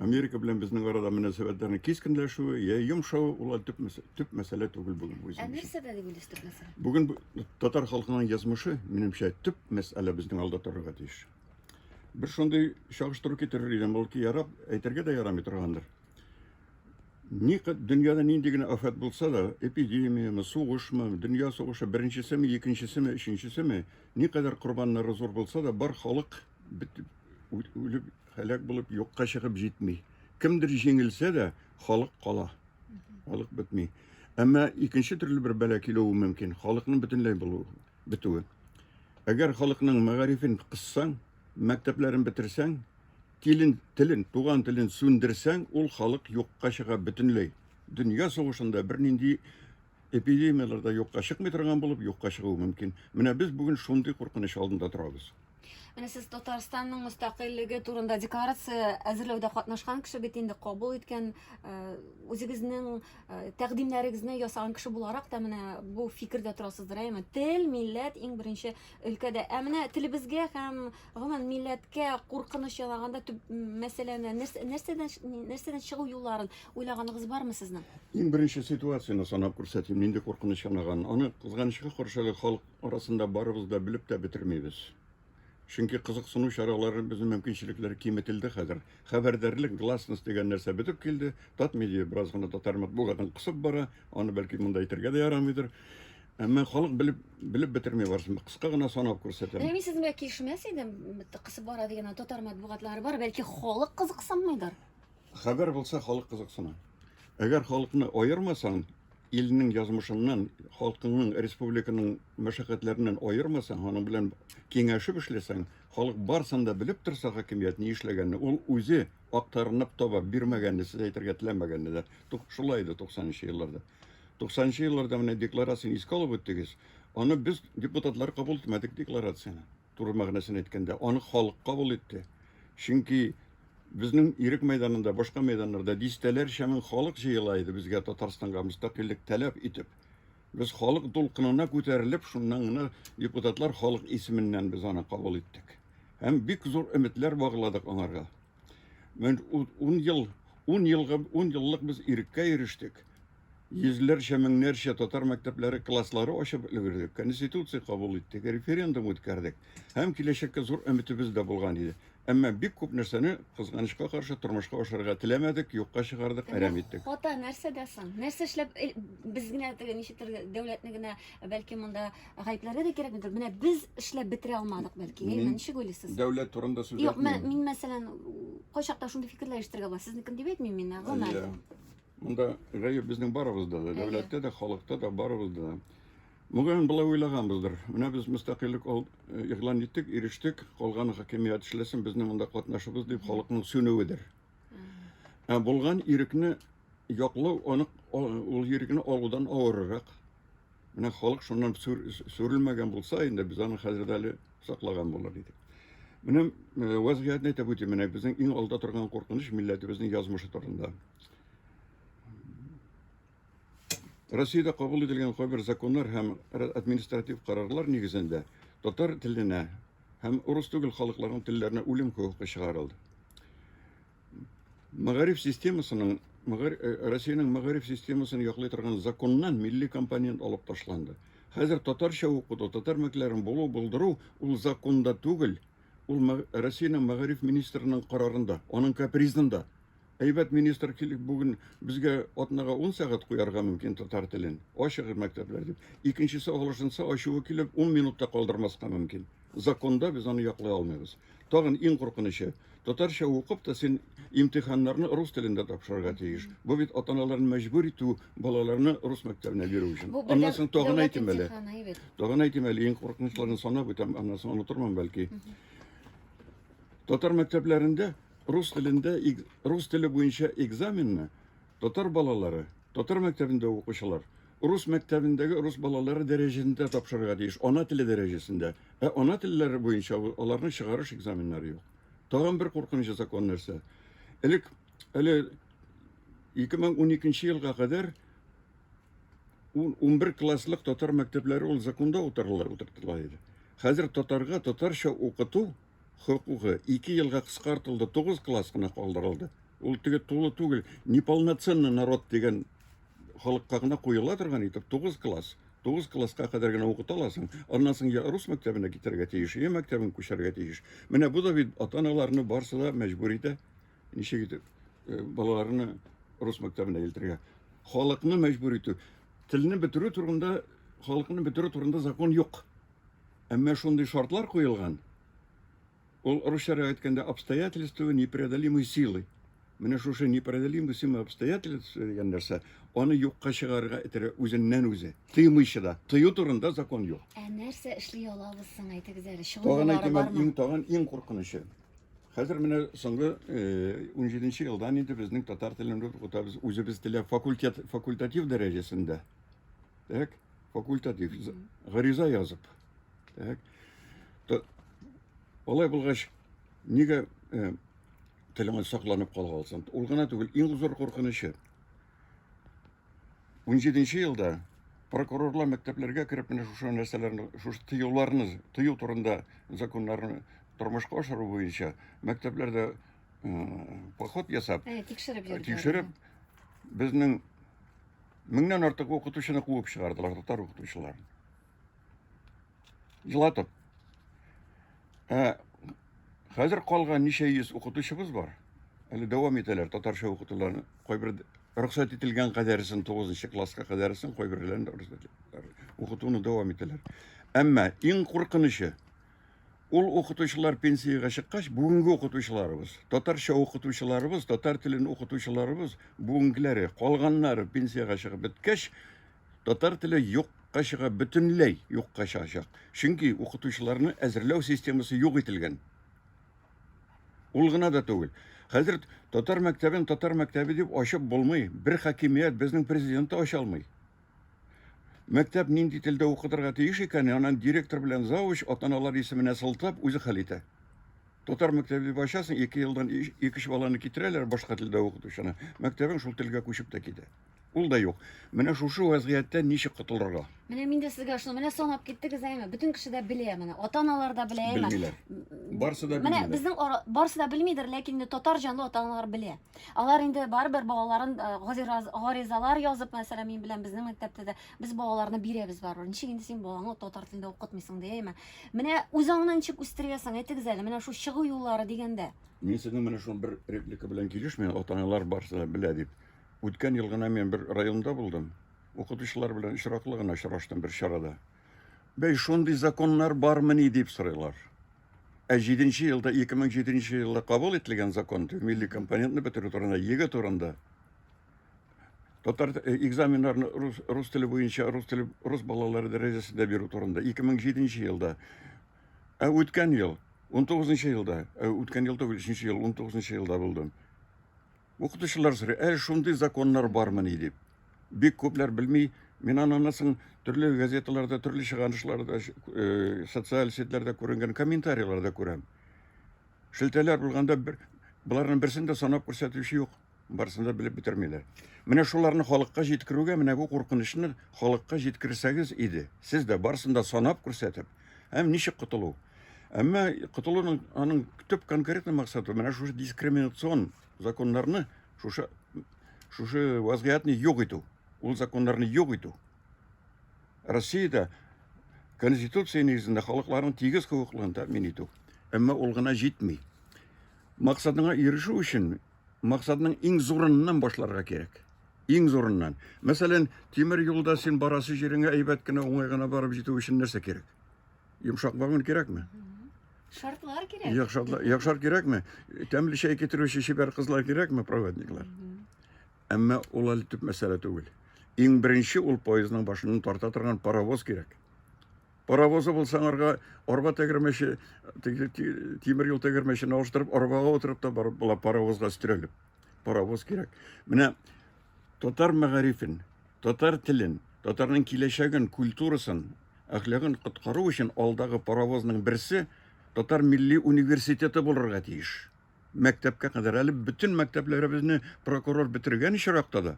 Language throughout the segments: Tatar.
Америка белән безнең арада мөнәсәбәтләрнең кискенләшүе, я йомшавы ул төп, төп мәсьәлә түгел бүген үзем. Ә нәрсә дә дип төп мәсьәлә? Бүген татар халкының язмышы, минемчә, төп мәсьәлә безнең алда торырга тиеш. Бер шундый чагыштыру китерер идем, ул ки ярап, әйтергә дә ярамый торгандыр. Ни дөньяда нинди генә афәт булса да, эпидемияме, сугышмы, дөнья сугышы беренчесеме, икенчесеме, өченчесеме, никадәр корбаннары зур булса да, бар халык бит үлеп Һәлак булып юкка чыгып җитми. Кемдер җиңелсә дә, халык кала. Халык бетми. Әмма икенче төрле бер бәла килүе мөмкин. Халыкның бөтенләй булу, бетүе. Әгәр халыкның мәгарифен кыссаң, мәктәпләрен бетерсәң, телен, телен, туган телен сүндерсәң, ул халык юкка чыга бөтенләй. Дөнья сугышында бернинди эпидемияләр дә юкка чыкмый торган булып, юкка чыгуы мөмкин. Менә без бүген шундый куркыныч алдында торабыз. Менә сез Татарстанның мөстәкыйльлеге турында декларация әзерләүдә катнашкан кеше бит инде кабул иткән э, үзегезнең э, тәкъдимнәрегезне ясаган кеше буларак та менә бу фикердә торасыздыр, әйме? Тел, милләт иң беренче өлкәдә. Ә менә телебезгә һәм гомумән милләткә куркыныч ялаганда төп мәсьәләне нәрсәдән нәрсәдән чыгу юлларын уйлаганыгыз бармы сезнең? Иң беренче ситуацияне санап күрсәтим, нинди куркыныч янаган. Аны кызганычка каршы халык арасында барыбыз да белеп тә бетермибез. Чөнки кызыксыну чаралары безнең мөмкинчелекләр киметелде хәзер. Хәбәрдәрлек, гласность дигән нәрсә бетеп килде. Тат медиа бераз гына татар матбугатын кысып бара. Аны бәлки монда әйтергә дә ярамыйдыр. Әмма халык белеп белеп бетерми барсын. Кыска гына санап күрсәтәм. Менә мин сезнең белән килешмәс идем. Кысып бара дигән татар матбугатлары бар, бәлки халык кызыксынмыйдыр. Хәбәр булса халык кызыксына. Әгәр халыкны аермасаң, Илнең язмышыннан, халкыңның, республиканың мәшәкатьләреннән аермасаң, аның белән киңәшеп эшләсәң, халык барсын да белеп торса хакимият ни эшләгәнне, ул үзе актарынып таба, бирмәгәнне сез әйтергә теләмәгәнне дә. Шулай иде 90 нчы елларда. 90 нчы елларда менә декларацияне искә алып үттегез, аны без депутатлар кабул итмәдек декларацияне. Туры мәгънәсен әйткәндә, аны халык кабул итте. Чөнки безнең ирек мәйданында, башка мәйданнарда дистәләрчә мең халык җыела иде безгә Татарстанга мөстәкыйльлек таләп итеп. Без халык дулкынына күтәрелеп, шуннан гына депутатлар халык исеменнән без аны кабул иттек. Һәм бик зур өметләр багладык аңарга. Мен ун ел, ун елга, ун еллык без иреккә ирештек. йөзләрчә-меңнәрчә татар мәктәпләре класслары ачып өлгердек, конституция кабул иттек, референдум үткәрдек һәм киләчәккә зур өметебез дә булган иде. Әмма бик күп нәрсәне, кызганычка каршы, тормышка ашырырга теләмәдек, юкка чыгардык, әрәм иттек. Хата нәрсәдә соң? Нәрсә эшләп э, без генә теге ничектер дәүләтне генә бәлки монда гаепләргә дә кирәкмидер. Менә без эшләп бетерә алмадык бәлки. Әйе, Мин- ничек уйлыйсыз? Дәүләт турында сүз Юк, мә- әйтмим. мин мәсәлән, кайчакта шундый фикерләр ишетергә була. Сезне кем дип әйтмим мин, ә гомумән. Иә. Монда гаеп безнең барыбызда да, дәүләттә дә, халыкта да, барыбызда да. Мөгаен, болай уйлаганбыздыр. Менә без мөстәкыйльлек э, игълан иттек, ирештек, калганы хакимият эшләсен, безнең монда катнашыбыз дип халыкның сүнүедер. Ә булган ирекне яклау, аны ул ирекне алудан авыррак. Менә халык шуннан сүрелмәгән булса, инде без аны хәзер әле саклаган булыр идек. Менә э, вазгыятьне әйтеп үтим, менә безнең иң алда торган куркыныч милләтебезнең язмышы турында. Россиядә кабул ителгән кайбер законнар һәм административ карарлар нигезендә татар теленә һәм урыс түгел халыкларның телләренә үлем хокукы чыгарылды. Мәгариф системасының э, Россиянең мәгариф системасын яклый торган законнан милли компонент алып ташланды. Хәзер татарча укыту, татар мәктәпләрен булу булдыру ул законда түгел, ул Россиянең мәгариф министрының карарында, аның капризында. Әйбәт министр килеп бүген безгә атнага ун сәгать куярга мөмкин татар телен. Ачыгыз мәктәпләр дип. Икенчесе аглашынса ачуы килеп ун минут та калдырмаска мөмкин. Законда без аны яклый алмыйбыз. Тагын иң куркынычы, татарча укып та син имтиханнарны рус телендә тапшырырга тиеш. Бу бит атаналарны мәҗбүр итү балаларны рус мәктәбенә бирү өчен. Бу Аннан бердәм соң тагын дәүләт әйтим әле. имтиханы, әйбәт. Тагын әйтим әле иң куркынычларын санап үтәм, аннан соң онытырмын бәлки. Татар мәктәпләрендә Рус телендә рус теле буенча экзаменны татар балалары, татар мәктәбендә укучылар, рус мәктәбендәге рус балалары дәрәҗәсендә тапшырырга тиеш, ана теле дәрәҗәсендә. Ә ана телләре буенча аларның чыгарыш экзаменнары юк. Тагын бер куркынычы закон нәрсә? Элек әле 2012 елга кадәр 11 класслык татар мәктәпләре ул законда утырыла утыртыла иде. Хәзер татарга татарча укыту хокукы ике елга кыскартылды, тугыз класс кына калдырылды. Ул теге тулы түгел, неполноценный народ дигән халыкка гына куела торган итеп, тугыз класс. Тугыз класска кадәр генә укыта аласың, аннан соң я рус мәктәбенә китәргә тиеш, я мәктәбен күчәргә тиеш. Менә бу да бит ата-аналарны барсы да мәҗбүр итә. Ничек итеп э, балаларны рус мәктәбенә илтергә? Халыкны мәҗбүр итү. Телне бетерү турында, халыкны бетерү турында закон юк. Әмма шундый шартлар куелган, ул русчарак әйткәндә обстоятельства непреодолимой силы. Менә шушы непреодолимой силы обстоятельства дигән нәрсә аны юкка чыгарырга этерә үзеннән үзе. Тыймыйчы да. Тыю турында закон юк. Ә нәрсә эшли алабыз соң, әйтегез әле, Тагын әйтим, иң тагын иң куркынычы. Хәзер менә соңгы 17 э, елдан инде безнең татар телен укытабыз, үзебез теләп факультет факультатив дәрәҗәсендә. Так? факультатив гариза язып. Так. То, алай булгач, нигә э, телеңә сакланып кала алсаң? Ул гына түгел, иң зур куркынычы. 17 елда прокурорлар мәктәпләргә кереп менә шушы нәрсәләрне, шушы тыюларны, тыю турында законнарны тормышка ашыру буенча мәктәпләрдә поход ясап, тикшереп, тикшереп безнең Меңнән артык укытучыны куып чыгардылар, татар укытучыларын. Елатып. Ә хәзер калган ничә йөз укытучыбыз бар. Әле дәвам итәләр татарча укытуларны. Кайбер рөхсәт ителгән кадәресен 9 класска кадәресен кайберләрен рөхсәт укытуны дәвам итәләр. Әмма иң куркынычы Ул укытучылар пенсиягә чыккач, бүгенге укытучыларыбыз, татарча укытучыларыбыз, татар телен укытучыларыбыз, бүгенгеләре, калганнары пенсиягә чыгып беткәч, татар теле юк юкка чыга, бөтенләй юкка чыгачак. Чөнки укытучыларны әзерләү системасы юк ителгән. Ул гына да түгел. Хәзер татар мәктәбен татар мәктәбе дип ачып булмый. Бер хакимият безнең президент ача алмый. Мәктәп нинди телдә укытырга тиеш икән, анан директор белән завуч атаналар исеменә сылтап үзе хәл итә. Татар мәктәбе дип ачасың, ике елдан икеш баланы китерәләр башка телдә укытучыны. Мәктәбең шул телгә күчеп тә китә. Ул да юк. Менә шушы вазгыятьтән ничек котылырга? Менә мин дә сезгә шуны менә санап киттегез әйме. Бөтен кеше дә белә менә. Ата-аналар да белә әйме. Белмиләр. Барсы да белмиләр. Менә безнең барсы да белмидер, ләкин татар җанлы ата-аналар белә. Алар инде барыбер балаларын э, газираз- гаризалар язып, мәсәлән, мин белән безнең мәктәптә дә без балаларны бирәбез барыбер. Ничек инде син балаңны татар телендә укытмыйсың дияме? Менә үз аңны ничек үстерәсең? Әйтегез әле, менә шул чыгу юллары дигәндә. Мин сезнең менә шул бер реплика белән килешмим, ата-аналар барысы да белә дип. Үткән ел гына мин бер районда булдым. Укытучылар белән очраклы гына очраштым бер чарада. Бәй, шундый законнар бармыни дип сорыйлар. Ә 7 елда, 2007 елда кабул ителгән закон, милли компонентны бетерү турында, егэ турында, татар э, экзаменнарны рус, рус теле буенча, рус, теле, рус балалары дәрәҗәсендә бирү турында, 2007 елда. Ә үткән ел, 19 елда, ә үткән ел түгел, 3 ел, 19 елда булдым. Укытучылар сорый, әле шундый законнар бармыни дип. Бик күпләр белми. Мин аннан соң төрле газеталарда, төрле чыганышларда, э, социаль сетьләрдә күренгән комментарийларда күрәм. Шелтәләр булганда бер боларның берсен дә санап күрсәтүче юк. Барысын да белеп бетермиләр. Менә шуларны халыкка җиткерүгә, менә бу куркынычны халыкка җиткерсәгез иде. Сез дә барысын да санап күрсәтеп, Һәм ничек котылу? Әмма котылуның аның төп конкретный максаты менә шушы дискриминацион законнарны, шушы шушы вазгыятны юк итү, ул законнарны юк итү. Россиядә Конституция нигезендә халыкларның тигез хокукларын тәэмин итү. Әмма ул гына җитми. Максатыңа ирешү өчен максатның иң зурыннан башларга кирәк. Иң зурыннан. Мәсәлән, тимер юлда син барасы җиреңә әйбәт кенә, уңай гына барып җитү өчен нәрсә кирәк? Йомшак вагон кирәкме? Шартлар кирәк. Яхшар, яхшар кирәкме? Тәмле чәй китерүче чибәр кызлар кирәкме, проводниклар? Әмма ул әле төп мәсьәлә түгел. Иң беренче ул поездның башыннан тарта торган паровоз кирәк. Паровозы булса аңарга арба тәгәрмәче, тимер юл тәгәрмәчен алыштырып, арбага утырып та барып була паровозга өстерәлеп. Паровоз кирәк. Менә татар мәгарифен, татар телен, татарның киләчәген, культурасын, әхлагын коткару өчен алдагы паровозның берсе татар милли университеты булырга тиеш. мәктәпкә кадәр, әле бөтен мәктәпләребезне прокурор бетергән очракта да,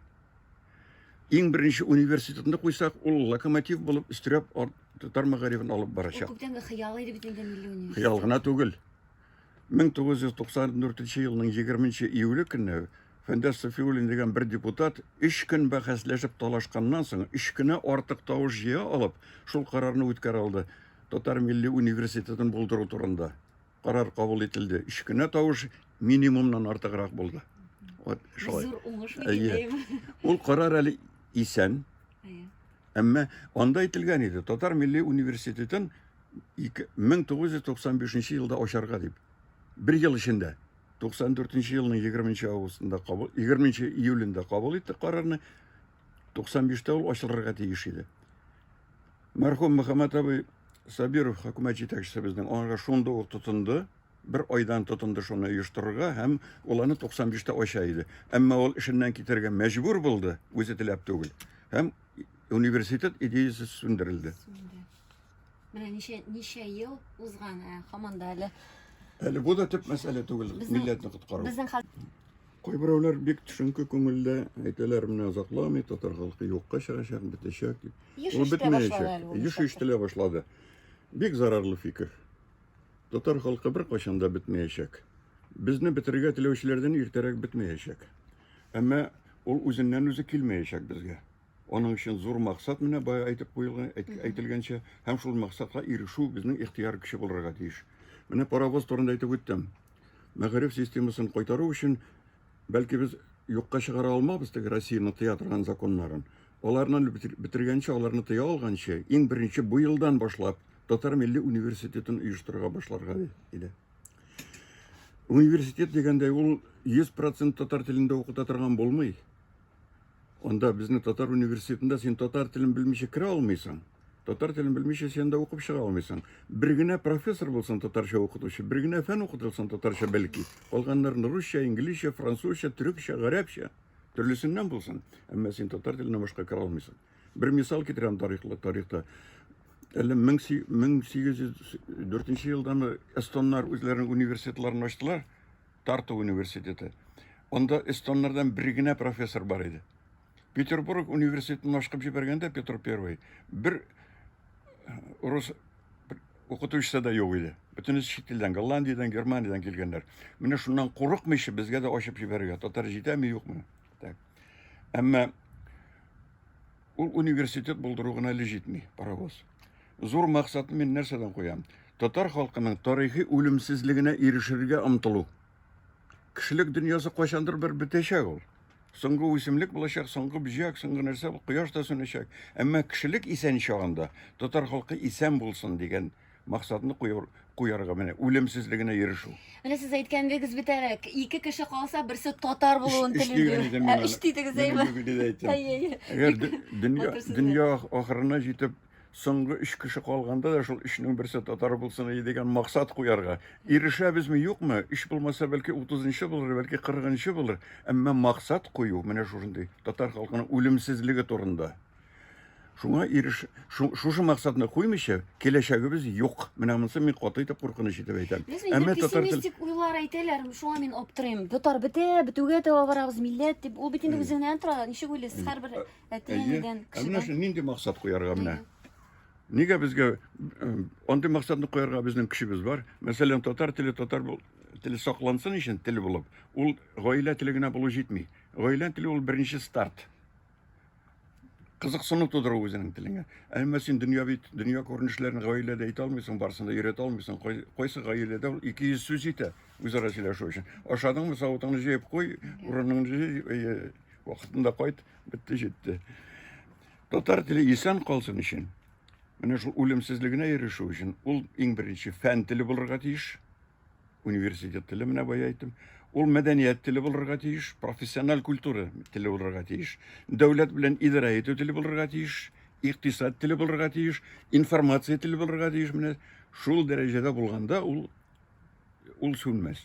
иң беренче университетны куйсак, ул локомотив булып өстерәп татар мәгарифен алып барачак. Күптәнге хыял иде бит инде милли университет. Хыял гына түгел. 1994 елның 20 июле көнне Фәндәс Сафиуллин дигән бер депутат өч көн бәхәсләшеп талашканнан соң, өч кенә артык тавыш җыя алып, шул карарны үткәрә алды. Татар милли университетын булдыру турында. карар кабул ителде. Өч кенә тавыш минимумнан артыграк булды. Вот шулай. Зур уңыш дигәндәем. Ул карар әле исән. Әмма анда әйтелгән иде, Татар милли университетын 1995 елда ачарга дип. Бер ел эчендә 94 елның 20 августында кабул 20 июлендә кабул итте карарны. 95-тә ул ачылырга тиеш иде. Мәрхүм Мөхәммәт абый Сабиров хөкүмәт җитәкчесебезнең аңарга шунда ук тотынды, бер айдан тотынды шуны оештырырга һәм ул аны 95 та ача иде. Әмма ул эшеннән китәргә мәҗбүр булды, үзе теләп түгел. Һәм университет идеясе сүндерелде. Менә ничә ничә ел узган, ә һаман да әле Әле бу да төп мәсьәлә түгел, Безнең- милләтне коткару. безнең хәл Кайберәүләр бик төшенке күңелдә әйтәләр, менә озакламый татар халкы юкка чыгачак, бетәчәк дип. Еш Ул ишетә башлады бетмәячәк. әле ул Еш чакта. ишетелә башлады. Бик зарарлы фикер. Татар халкы беркайчан да бетмәячәк. Безне бетерергә теләүчеләрдән иртәрәк бетмәячәк. Әмма ул үзеннән-үзе килмәячәк безгә. Аның өчен зур максат менә бая әйтеп куелган, әйт- әйтелгәнчә, һәм шул максатка ирешү безнең ихтыяр көче булырга тиеш. Менә паровоз турында әйтеп үттем. мәгариф системасын кайтару өчен, бәлки без юкка чыгара алмабыз теге Россияны тыя торган законнарын. Аларны бетергәнче, аларны тыя алганчы, иң беренче бу елдан башлап татар милли университетын оештырырга башларга иде. Университет дигәндә ул 100% татар телендә укыта торган булмый. Анда безнең татар университетында син татар телен белмичә керә алмыйсың. Татар телен белмичә син анда укып чыга алмыйсың. Бер генә профессор булсын татарча укытучы, бер генә фән укытылсын татарча бәлки. Калганнарын русча, инглизчә, французча, төрекчә, гарәпчә, төрлесеннән булсын. Әмма син татар теленә башка керә алмыйсың. Бер мисал китерәм тарихлы тарихта. Әле 1804 елдамы эстоннар үзләренең университетларын ачтылар. Тарту университеты. Анда эстоннардан бер генә профессор бар иде. Петербург университетын ашкып җибәргәндә Петр I бер э, рус укытучысы да юк иде. Бөтенесе чит илдән, Голландиядән, Германиядән килгәннәр. Менә шуннан курыкмыйча безгә дә ачып җибәрергә. Татар җитәме, юкмы? Так. Әмма Ул университет булдыру гына әле җитми, паровоз. Зур максатны мин нәрсәдән куям? Татар халкының тарихи үлемсезлегенә ирешергә омтылу. Кешелек дөньясы кайчандыр бер бетәчәк ул. Соңгы үсемлек булачак, соңгы бөҗәк, соңгы нәрсә бу, кояш та сүнәчәк. Әмма кешелек исән чагында татар халкы исән булсын дигән Максатны куяр, куярга менә үлемсезлегенә ирешү. Менә сез әйткәнегез битәрәк, ике кеше калса, берсе татар булуын Өч- өч телим дигән идем мин аны. Өч дидегез, Мин әйе. бүген дә әйттем. Әйе, әйе. Әгәр Бик дө- дөнья, матур сүзләр. дөнья ах- ахырына җитеп, соңгы өч кеше калганда да шул өчнең берсе татар булсын ие дигән максат куярга. Ирешәбезме, юкмы? Өч булмаса, бәлки 30-нчы булыр, бәлки 40-нчы булыр. Әмма максат кую менә шушындый татар халкының үлемсезлеге турында. Шуңа иреш, шушы максатны куймыйча, киләчәгебез юк. Менә монысы мин каты итеп куркыныч итеп әйтәм. Әмма татар пессимистик уйлар әйтәләр, шуңа мин аптырыйм. Татар бетә, бетүгә таба барабыз, милләт дип. Ул бит инде үзеннән тора. Ничек уйлыйсыз, һәрбер әти-әнидән, кешедән? Менә шуны нинди максат куярга менә? Нигә безгә андый максатны куярга безнең көчебез бар? Мәсәлән, татар теле татар теле саклансын өчен тел булып, ул гаилә теле генә булу җитми. Гаилә теле ул беренче старт. кызыксыну тудыру үзенең телеңә. Әмма син дөнья бит, дөнья күренешләрен гаиләдә әйтә алмыйсың, барысын да өйрәтә алмыйсың. Кайсы гаиләдә ул 200 сүз итә үзара сөйләшү өчен. Ашадыңмы, савытыңны җыеп куй, урыныңны җый, вакытында кайт, бетте җитте. Татар теле исән калсын өчен, менә шул үлемсезлегенә ирешү өчен ул иң беренче фән теле булырга тиеш. Университет теле менә бая әйттем. Ул мәдәният теле булырга тиеш, профессиональ культура теле булырга тиеш, дәүләт белән идарә итү теле булырга тиеш, икътисад теле булырга тиеш, информация теле булырга тиеш. Менә шул дәрәҗәдә булганда ул ул сүнмәс.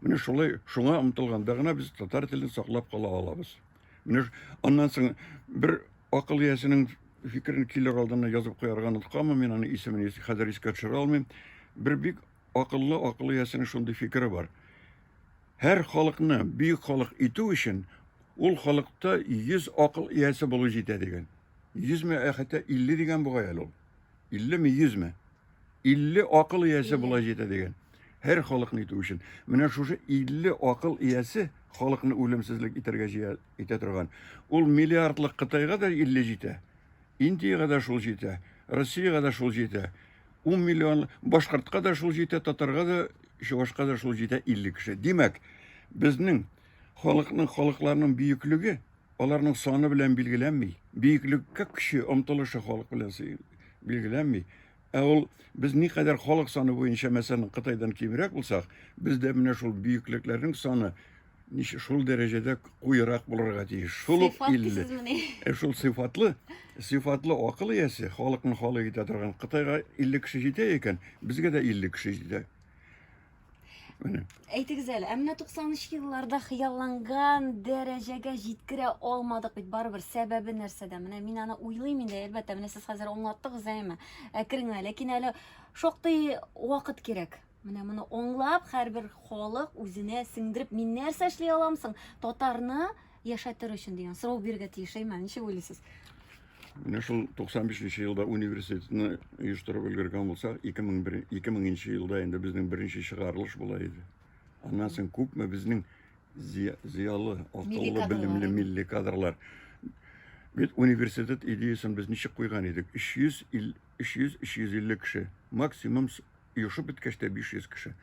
Менә шулай шуңа омтылганда гына без татар телен саклап кала алабыз. Менә аннан соң бер акыл иясенең фикерен килер алдына язып куярга онытканмын, мин аның исемен хәзер искә төшерә алмыйм. Бер бик акыллы акыл иясенең шундый фикере бар. Һәр халыкны бөек халык итү өчен ул халыкта 100 акыл иясе булу җитә дигән. 100 ме, ә хәтта 50 дигән бугай әле ул. 50 ме, 100 ме? 50 акыл иясе болай җитә дигән. Һәр халыкны итү өчен. Менә шушы 50 акыл иясе халыкны үлемсезлек итәргә җыя итә торган. Ул миллиардлык Кытайга да 50 җитә. Индиягә дә шул җитә. Россиягә дә шул җитә. 10 миллион башкортка да шул җитә, татарга да, чувашка да шул җитә 50 кеше. Димәк, безнең халыкның халыкларның бөеклеге аларның саны белән билгеләнми. Бөеклеккә көче, омтылышы халык белән билгеләнми. Ә ул без никадәр халык саны буенча мәсәлән Кытайдан кимрәк булсак, бездә менә шул бөеклекләрнең саны ничә шул дәрәҗәдә куерак булырга тиеш. Шул ук илле. Ә шул сыйфатлы, сыйфатлы акыл иясе, халыкны халык итә торган Кытайга 50 кеше җитә икән, безгә дә 50 кеше җитә. Менә. Әйтегез әле, ә менә 93 елларда хыялланган дәрәҗәгә җиткерә алмадык бит барыбер. Сәбәбе нәрсәдә? Менә мин аны уйлыйм инде, әлбәттә, менә сез хәзер аңлаттыгыз әйме? Әкрен генә, ләкин әле шактый вакыт кирәк. Менә моны аңлап, һәрбер халык үзенә сеңдереп, мин нәрсә эшли аламсың? Татарны Яшәтер өчен дигән сорау бирергә тиеш, әйме, ничек уйлыйсыз? Менә шул 95 нче елда университетны оештырып өлгергән булсак, 2001 2000 нче елда инде безнең беренче чыгарылыш була иде. Аннан соң күпме безнең зыя- зыялы, Милли акыллы, кадрлар, белемле әйме? милли кадрлар. Бит университет идеясын без ничек куйган идек? 300 ил- 300 350 кеше, максимум с- Оешып беткәч тә 500 кеше.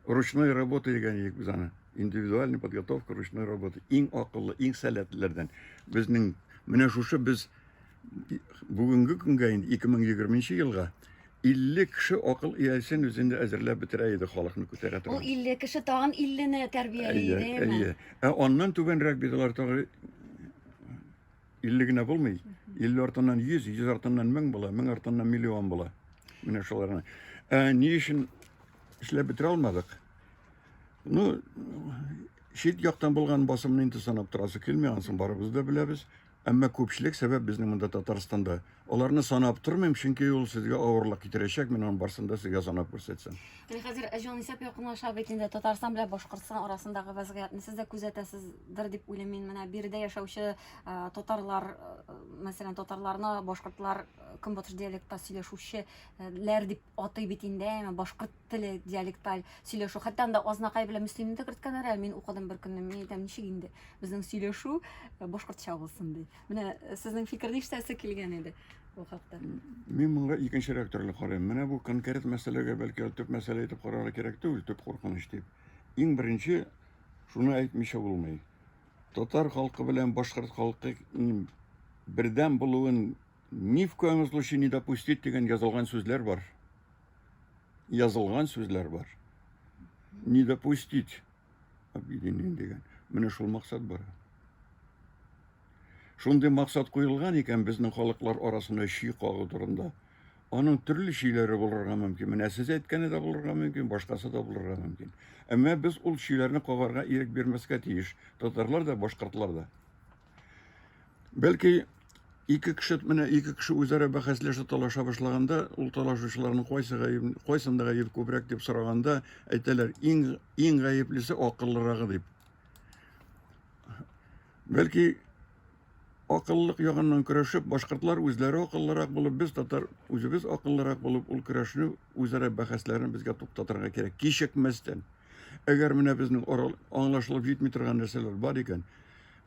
Ручной работа дигән идек без аны. Индивидуальная подготовка ручной работы. Иң акыллы, иң сәләтлеләрдән. Безнең менә шушы без бүгенге көнгә инде 2020 елга 50 кеше акыл иясен үзендә әзерләп бетерә иде халыкны күтәрә Ул торган. 50 кеше тагын 50 не тәрбияли, Әйе, әйе. Ә аннан түбәнрәк бит алар тагы 50 генә булмый. 50 артыннан 100, 100 артыннан 1000 була, 1000 артыннан миллион була. Менә шуларны. Ә ни өчен эшләп бетерә алмадык? Ну, чит яктан булган басымны инде санап торасы килми, анысын барыбыз да беләбез. Әмма күпчелек сәбәп безнең монда Татарстанда Аларны санап тормыйм, чөнки ул сезгә авырлык китерәчәк, мин аның барсын да сезгә санап күрсәтсәм. Менә хәзер җанисәп якынлаша бит инде. Татарстан белән Башкортстан арасындагы вазгыятьне сез дә күзәтәсездер дип уйлыйм мин. Менә биредә яшәүче э, татарлар, э, мәсәлән, татарларны башкортлар э, көнбатыш диалекта сөйләшүчеләр дип атый бит инде, әмма башкорт теле, диалекталь сөйләшү. Хәтта анда Азнакай белән Мөслимне дә керткәннәр, ә мин укыдым бер көнне, мин әйтәм, ничек инде безнең сөйләшү э, башкортча булсын ди. Менә э, сезнең фикерне ишетәсе килгән иде бу хакта. Мин моңа икенчерәк төрле карыйм. Менә бу конкрет мәсьәләгә бәлки төп мәсьәлә итеп карарга кирәк түгел, төп куркыныч дип. Иң беренче шуны әйтмичә булмый. Татар халкы белән башкорт халкы бердәм булуын ни в коем случае не допустить дигән язылган сүзләр бар. язылган сүзләр бар. Не допустить объединение дигән. Менә шул максат бар. Шундый максат куелган икән безнең халыклар арасында чи кагу турында. Аның төрле чиләре булырга мөмкин. Менә сез әйткәне дә булырга мөмкин, башкасы да булырга мөмкин. Әмма без ул чиләрне кагарга ирек бирмәскә тиеш. Татарлар да, башкортлар да. Бәлки ике кеше менә ике кеше үзара бәхәсләшә талаша башлаганда, ул талашучыларның кайсы гаеп, кайсында гаеп күбрәк дип сораганда, әйтәләр, иң иң гаеплесе акыллырагы дип. Бәлки акыллылык ягыннан көрәшеп, башкортлар үзләре акыллырак булып, без татар үзебез акыллырак булып, ул көрәшне үзара бәхәсләрен безгә туктатырга кирәк, кичекмәстән. Әгәр менә безнең арал аңлашылып җитми торган нәрсәләр бар икән,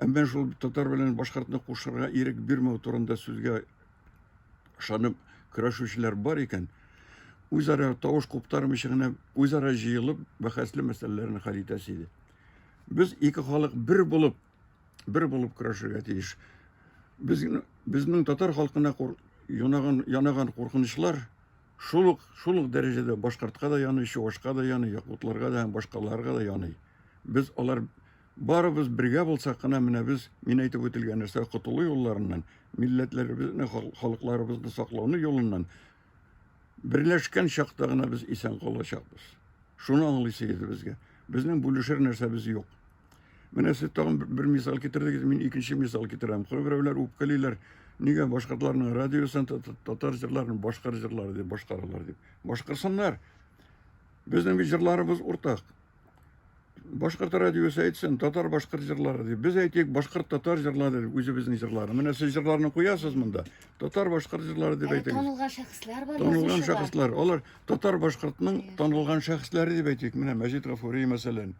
әмма шул татар белән башкортны кушырга ирек бирмәү турында сүзгә ышанып көрәшүчеләр бар икән, үзара тавыш куптармыйча гына үзара җыелып бәхәсле мәсьәләләрне хәл итәсе иде. Без ике халык бер булып, бер булып көрәшергә тиеш. Безнең, безнең татар халкына кур, янаган, янаган куркынычлар Шул ук, шул ук дәрәҗәдә башкортка да яный, чувашка да яный, якутларга да һәм башкаларга да яный. Без алар барыбыз бергә булсак кына менә без мин әйтеп үтелгән нәрсә котылу юлларыннан милләтләребезне халыкларыбызны саклауны юлыннан берләшкән чакта гына без исән калачакбыз шуны аңлыйсы иде безгә безнең бүлешер нәрсәбез юк Менә сез тагын бер мисал китердегез, мин икенче мисал китерәм. Кайберәүләр үпкәлиләр, нигә башкортларның радиосын татар җырларын башкар җырлары дип башкаралар дип. Башкарсыннар. Безнең бит җырларыбыз уртак. Башкорт радиосы әйтсен, татар башкорт җырлары дип. Без әйтик, башкорт татар җырлары дип, үзебезнең җырлары. Менә сез җырларны куясыз монда. Татар башкорт җырлары дип әйтегез. Танылган шәхесләр бар. Танылган шәхесләр. Алар татар башкортның танылган шәхесләре дип әйтик. Менә Мәҗит Гафури мәсәлән.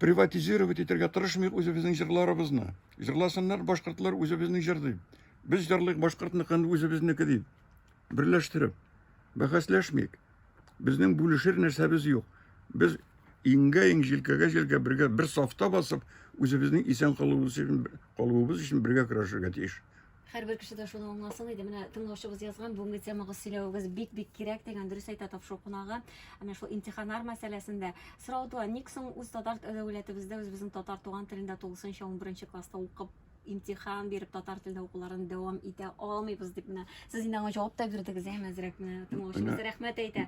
приватизировать итәргә тырышмыйк үзебезнең җырларыбызны. Җырласыннар башкортлар үзебезне җырлый. Без җырлыйк башкортныкын үзебезнеке дип. Берләштереп, бәхәсләшмик. Безнең бүлешер нәрсәбез юк. Без иңгә иң җилкәгә җилкә бергә бер сафта басып, үзебезнең исән калуыбыз өчен, калуыбыз өчен бергә көрәшергә тиеш. Һәрбер кеше дә шуны аңласын иде. Менә тыңлаучыбыз язган, бүгенге темагыз сөйләвегез бик-бик кирәк дигән дөрес әйтә тапшыру кунагы. Ә менә шул имтиханнар мәсьәләсендә сорау туа, ник соң үз татар дәүләтебездә үзебезнең татар туган телендә тулысынча 11 класста укып имтихан биреп татар телендә укуларын дәвам итә алмыйбыз дип менә сез инде аңа җавап та бирдегез әм әзрәк менә тыңлаучыбыз рәхмәт әйтә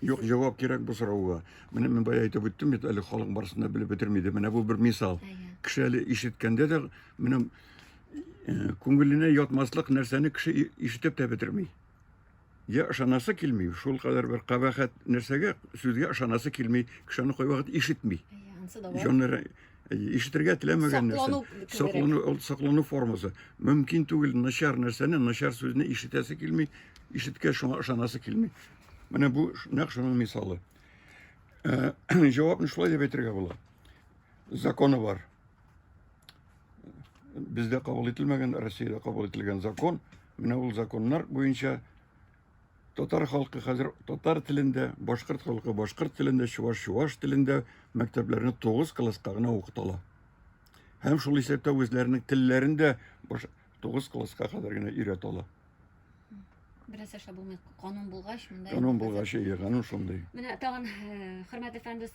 юк җавап кирәк бу сорауга менә мин бая әйтеп үттем бит әле халык барысын да белеп бетерми иде менә бу бер мисал кеше әле ишеткәндә дә менә күңеленә ятмаслык нәрсәне кеше ишетеп тә бетерми. Я ышанасы килми, шул кадәр бер кабахәт нәрсәгә сүзгә ышанасы килми, кеше аны кайвакыт ишетми. Җаннары ишетергә теләмәгән нәрсә. Соклану, ул соклану формасы. Мөмкин түгел начар нәрсәне, начар сүзне ишетәсе килми, ишеткә шуңа ышанасы килми. Менә бу нәкъ шуның мисалы. Җавапны шулай дип әйтергә була. Законы бар. бездә кабул ителмәгән, Россиядә кабул ителгән закон. Менә ул законнар буенча татар халкы хәзер татар телендә, башкорт халкы башкорт телендә, чуваш чуваш телендә мәктәпләрне 9 класска гына укытала. Һәм шул исәптә үзләренең телләрен дә 9 класска кадәр генә өйрәтә ала. Бераз эшләп булмый. Канун булгач, монда. Канун булгач, ие, канун шундый. Менә тагын хөрмәт әфәнде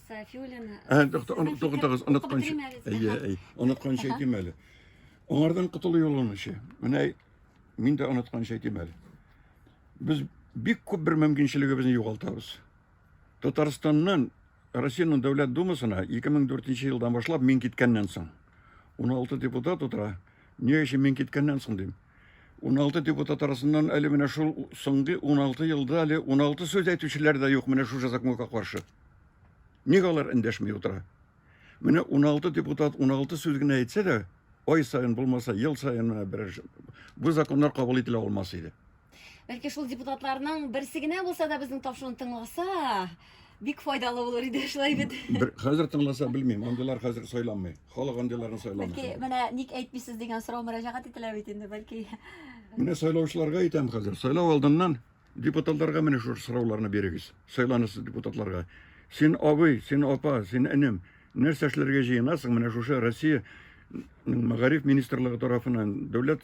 Сафиуллин. Ә, туктагыз, онытканчы. Әйе, әйе. Онытканчы әйтим әле. Аңардан котылу юлын эше. Менә мин дә онытканчы әйтим әле. Без бик күп бер мөмкинчелегебезне югалтабыз. Татарстаннан Россиянең Дәүләт Думасына 2004 елдан башлап мин киткәннән соң 16 депутат утыра. Ни өчен мин киткәннән соң дим. 16 депутат арасыннан әле менә шул соңгы 16 елда әле 16 сүз әйтүчеләр дә юк менә шул законга каршы. Ник алар эндәшми утыра? Менә 16 депутат 16 сүз генә әйтсә дә, ай саен булмаса, ел саен берәр бу законнар кабул ителә алмас иде. Бәлки шул депутатларның берсе генә булса да безнең тапшыруны тыңласа, Бик файдалы булыр иде шулай бит. Бер хәзер тыңласа белмим, андыйлар хәзер сайламый. Халык андыйларны сайламый. Бәлки менә ник әйтмисез дигән сорау мөрәҗәгать ителә бит инде, бәлки. Менә сайлаучыларга әйтәм хәзер, сайлау алдыннан депутатларга менә шушы сорауларны бирегез. Сайланасы депутатларга. Син абый, син апа, син энем, нәрсә эшләргә җыенасың? Менә шушы Россия мәгариф министрлыгы тарафынан, дәүләт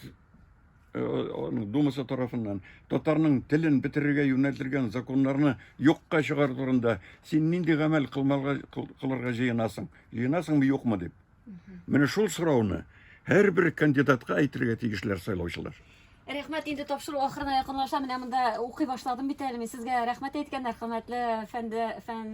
Э, думасы тарафыннан татарның телен бетерергә юнәлдергән законнарны юкка чыгару турында син нинди гамәл кылырга җыенасың җыенасыңмы юкмы дип менә шул сорауны һәрбер кандидатка әйтергә тиешләр сайлаучылар Рәхмәт, инде тапшыру ахырына якынлаша. Менә монда укый башладым бит әле мин. Сезгә рәхмәт әйткәннәр, хөрмәтле фәнде фән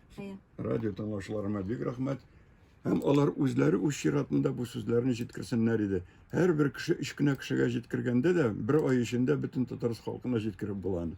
Радио тыңлаучыларыма бик рәхмәт. Һәм алар үзләре үз чиратында бу сүзләрне җиткерсеннәр иде. Һәрбер кеше өч кенә кешегә җиткергәндә дә бер ай эчендә бөтен татарс халкына җиткереп була аны.